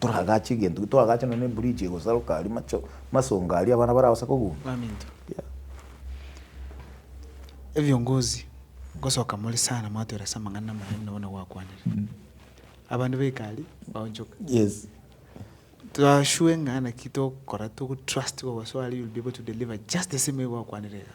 Toragache egento ki, toragache nonya na ebridge egosaroka aria, macho, masongo aria abana baragosa kogundwa. Baminto, Yeah. ebiongozi ngosoka more sana mwatwera ase amang'ana amaya buna bono gwakwanire. Abanto ba ekari baonchoka. Yes. Tor sure ng'a naki tokora togotrust whatsoever you'll be able to deliver just the same way gwakwanire iga.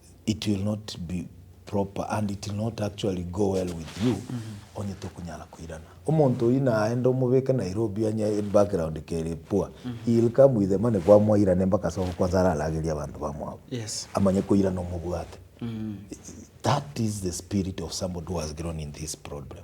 it will not be proper and it will not actually go well with you onye tokonyara koirana omonto oyio naende omobeke Nairobi onye background kere poor he will come with the money kwamwairane mpaka ase ogokwansa ara aragerie abanto bamwabo Yes. amanye koirana omobwate that is the spirit of somebody who has grown in this problem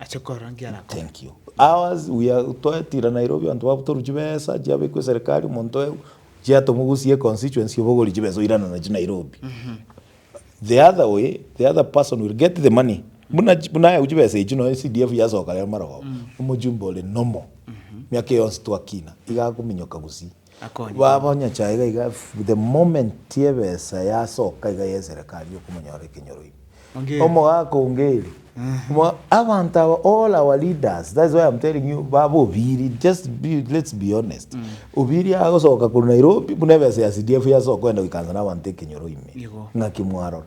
ache korora nki arakore. Thank you ours we are twatira Nairobi abanto babutoru chibesa chiabekwe serikali omonto oye chiatomogusie econstituency obogori chibesa oirana nachi Nairobi the other way the other person will get the money buna chi buna ayeu chibesa echi nonye CDF yasoka rero marogoba omochumbe ore normal miaka eye yonsi twakina iga akominyoka gusii. Baba onyachae iga iga the moment ebesa yasoka iga ye serekari okomonyora ekenyoro ime. Omogaka ongeri abanto aba all our leaders that's why I'm telling you baba obiri just be let's be honest obiri agosoka korwa Nairobi buna ebesa ya CDF yasoka kogenda goikansa nabanto ekenyoro ime ng'aki mwarora.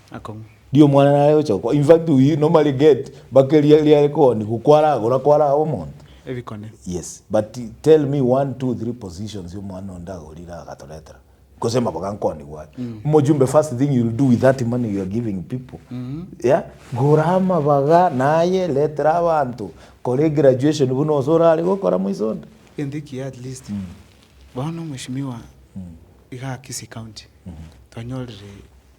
akong'u. Riria omwana nare gocha gokwa, in fact we normally get bake ria riare koanigwa kwaragora kwaraaba omonto. Ebikone. Yes, but tell me one, two, three positions omwana onde agorire agatoretera gose maboga nkoanigwa aye. Omojumbe first thing you will do with that money you are giving people, yeah, gora amabaga naye retera abanto, kora egraduation buna ose orare gokora moiso onde. Egento ekiya at least, bono Mweshimiwa iga Kisii County twanyorire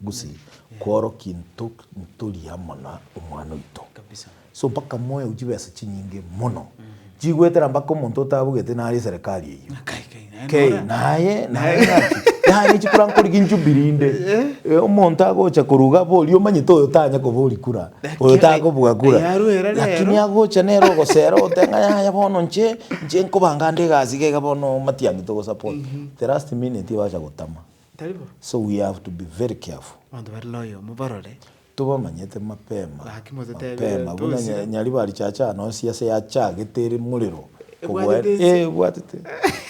Gose kworokia into ntori amo na omwana oito. So mpaka moeu chibesa chinyinge mono. Chigoetera mpaka omonto otabugete nare eserekari eyio. Kei, naye, naye ng'aki? Yaani chikura nkori ginjubilee inde. Eh, omonto agocha koruga abo oria omanyete oyo tanya kobori kura. Oyo takobua kura. Yaruera rero. Lakini agocha nere ogosera ogote ng'a yaya bono nche, nche nkobanga ande egasi iga iga bono matiang'i togosupport. The last minute ebacha gotama. Taribo. So we have to be very careful. Abanto bare noyomo barore. Tobamanyete mapema. Gaki motetebire mapema buna tosira. nyaribari chacha ano nsi ase yachagete ere morero Ebwatete kogwera ense. eh ebwatete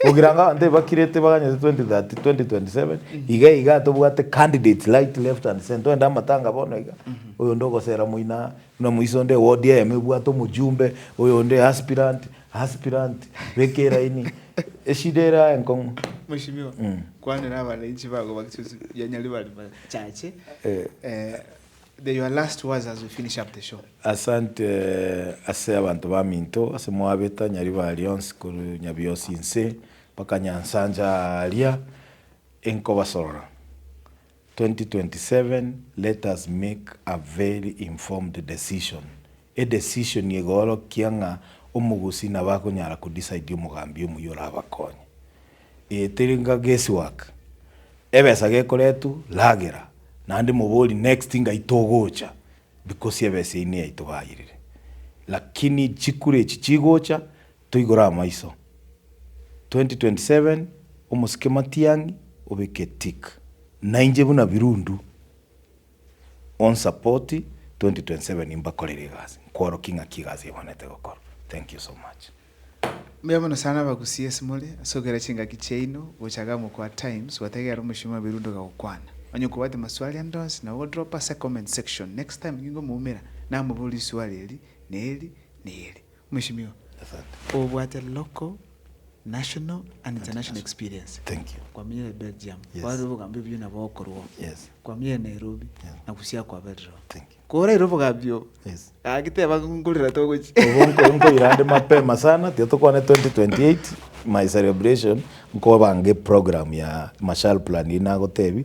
ogira nga abanto ebakirete baganyete 2030 2027 iga iga tobwate candidates right left and center oende amatanga bono iga oyonde ogosera moina buna moiso onde ewodi eyemo ebwate omojumbe oyonde aspirant Aspirant, beka eraini, eshida ere aye nkong'u. Mweshimiwa, kwanera abananchi bago bagesusu ya Nyaribari bachache. The your last words as we finish up the show. Asante ase abanto baminto ase mwabeta Nyaribari onsi korwa Nyabiosi inse mpaka Nyansancha aaria enkobasorora. 2027 Let us make a very informed decision, edecision egoorokia ng'a omogusii nabo akonyara kodecide omogambi omuya orabakonye. Eye teri nga guess work. Ebesa gekoretwa, ragera, naende mobori next ngai togocha because ebesa eye niyaito baayerire. Lakini chikura echi chigocha, Toigore amaiso. 2027 Omosike Matiang'i obeke tick. Nainche buna Birundu on support 2027 mbakorere egasi nkworokie ng'aki egasi ebwanete gokora thank you so much. Mbuya mono sana abagusii ase more ase ogokera chingaki chiaino gocha iga mokwe at times gwategerera omochie wa Birundu agagokwana. Onye nkobwate maswali ande onsi nabo dropa ase comment section next time ningomoumera namobori iswali eri na eri na eri. Mweshimiwa, obwate local, national and international experience. Kwamenyire Belgium, kwarorire obogambia obuya nabo okorwa oo. Kwamenyire Nairobi na gosia kwaberire oo. Koraire obogambia obo, gaki teba ng'a nkorera togochia. Obo nko nkoira ande mapema sana, tiga tokwane 2028 my celebration, nkobange program ya mashal plan eye nagotebie,